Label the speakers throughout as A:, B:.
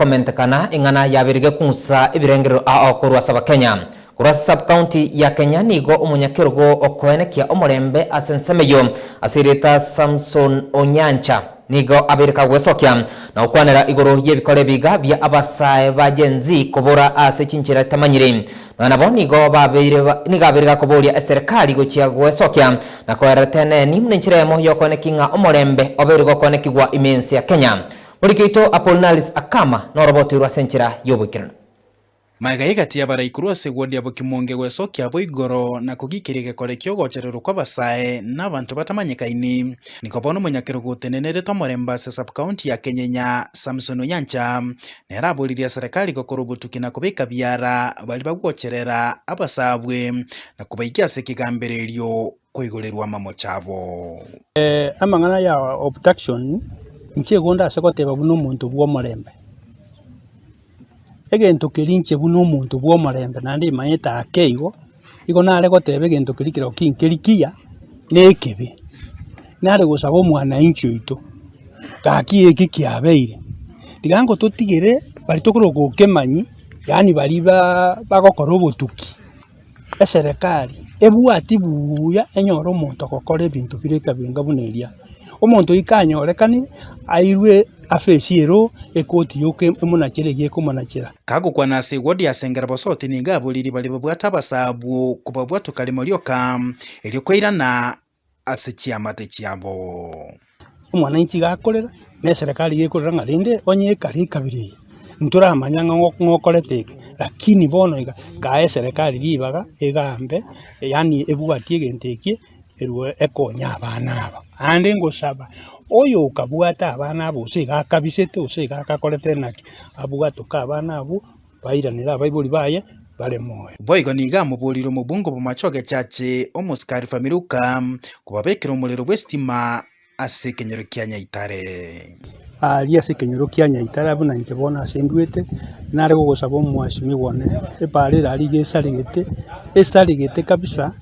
A: Komentekana ing'ana yabirige kung'usa ebirengerero ao korwa ase Abakenya. Korwa ase sub-county ya Kenya nigo omonyakerogo okoenekia omorembe ase ensemo eyio ase erieta Samson Onyancha nigo abeire kagwesokia na gokwanera igoro y'ebikora ebiiga bia abasae ba Gen Z kobora ase chinchera itamanyiri nonya nabo nigo babeire nigo abeire gakoboria eserekari gochia gwesokia na koerera eteneni buna enchera eyemo y'okoenekia ng'a omorembe obeire gokoenekigwa ime ense ya Kenya. Orikaito Apollinaris akama norobotoirwe ase enchera y'oboikeranu. Magega
B: egati y'abaraikuru ase gwodia bokimonge gwesokia abo igoro na kogiikeria egekore ki'ogochererwa kw'abasae na abanto batamanyekaini. Nigo bono omonyakerogo otenenerete omorembe ase Sub-county ya Kenyenya, Samson Onyancha, nere aboririe eserekari gokora obotuki na kobeka biara baria bagwocherera abasaabwe na kobaikia ase ekegambererio. koigorerwa amamocho abo. Amang'ana
C: ya obtaction inche igo ndase goteba buna omonto bw'omorembe. Egento keria inche buna omonto bw'omorembe naende imanyete ake igo, igo nare goteba egento keria kerero kinkeri kiya na ekebe. Nare gosaba omwanainchi oito, gaki eke kiabeire, tiga ngototigere baria tokoroka okemanyia, yaani baria baa bagokora obotuki. eserekari ebwati buuya enyore omonto ogokora ebinto bire ekebenga buna eria. Omonto oyo kanyorekanire, airwe afesi ero ekoti yoka emonachere eyio ekomonachera. Kagokwana ase
B: ewodi ase engera bosoote nigo aboriri baria babwate abasa abwo kobabwatwa kare morioka, erio kwairana. ase chiamate chiabo. Omwananchi
C: tiga akorera, na eserekari iga ekorera ng'a rende onye ekare ekabira eye, ntoramanya ng'a ng'o ng'okorete eke, rakini bono iga kae eserekari ribaga egambe yaani ebwati egento ekie erwo ekonye abana aba. Aande ngosaba oyo okabwate abana abo gose iga akabisete gose iga akakorete naki, abwatoke abana abwo. bairanere abaibori baye bare moyo. Boigo nigo amoboorire
B: omobunga obomache ogechache omosike Arifamiruka kobabekera omorero bw'esitima ase ekenyoro kia Nyaitare. Aaria ase
C: ekenyoro kia Nyaitare abwo na inche bono ase nduete, nare gogosaba omwasimigwa one, ebaare ere aria iga esaregete, esaregete kabisa,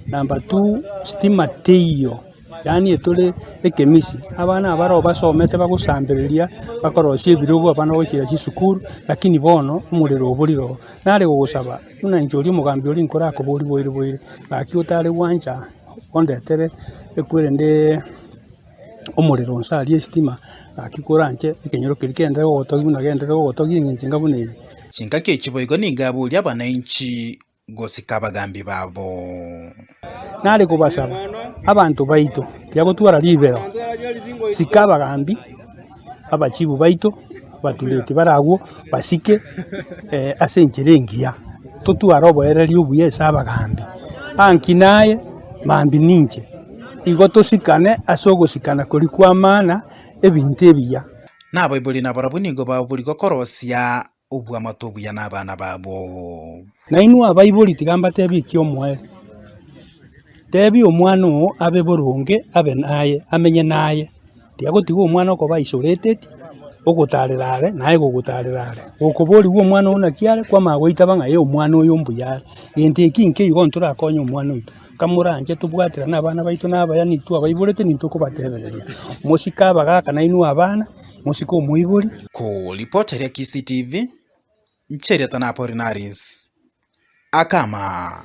C: number two, sitima teiyo. Yaani etore ekemisi, abana abaroo basomete bagosambereria, bakorosia ebirogo abana bagochia chisukuru, lakini bono omorero oborire oo. Nare gogosaba, buna inche oria omogambi oria nkorakoborie boiri boiri, gaki otare gwancha ondetere ekwerendeee omorero nse aria esitima, gaki kore anche ekenyoro keria kende ogotogia buna genderere ogotogia eng'encho enga buna eye. Chingaki echi boigo
B: nigo aboria abanainchi. gosika abagaambi babo.
C: Nare kobasaba, abanto baito tibagotwara ribero, sika abagaambi abachibu baito batureti bare agwo basike ase enchera engiya, totware oboiraneri obuya ase abagaambi. Aa nki naye, maambia ninche, igo tosikane ase ogosikana koria kw'amaana ebinto ebiya. Naboibori
B: nabarabwo nigo babori gokorosia. obw'amato obuya nabana babo. Nainwe abaibori,
C: tiga mbatebie eki omoerio, Tebia omwana oo abe boronge, abe naye, amenye naye, tiga gotiga omwana okoba ise oreteti, ogotarera are, naye gogotarera are. Gokoborigwa omwana oo naki are, kwama goitaba ng'a ee omwana oyo mbuya are, gento eki nkeigo ntorakonye omwana oito. kamoranche tobwaterane abana baito na abayani twabaiborete nintokobatebereria. Mosike abagaka nainwe abana, mosike omoibori. Koripoteria
B: Kisii TV, nchiriata na Apollinaris Akama.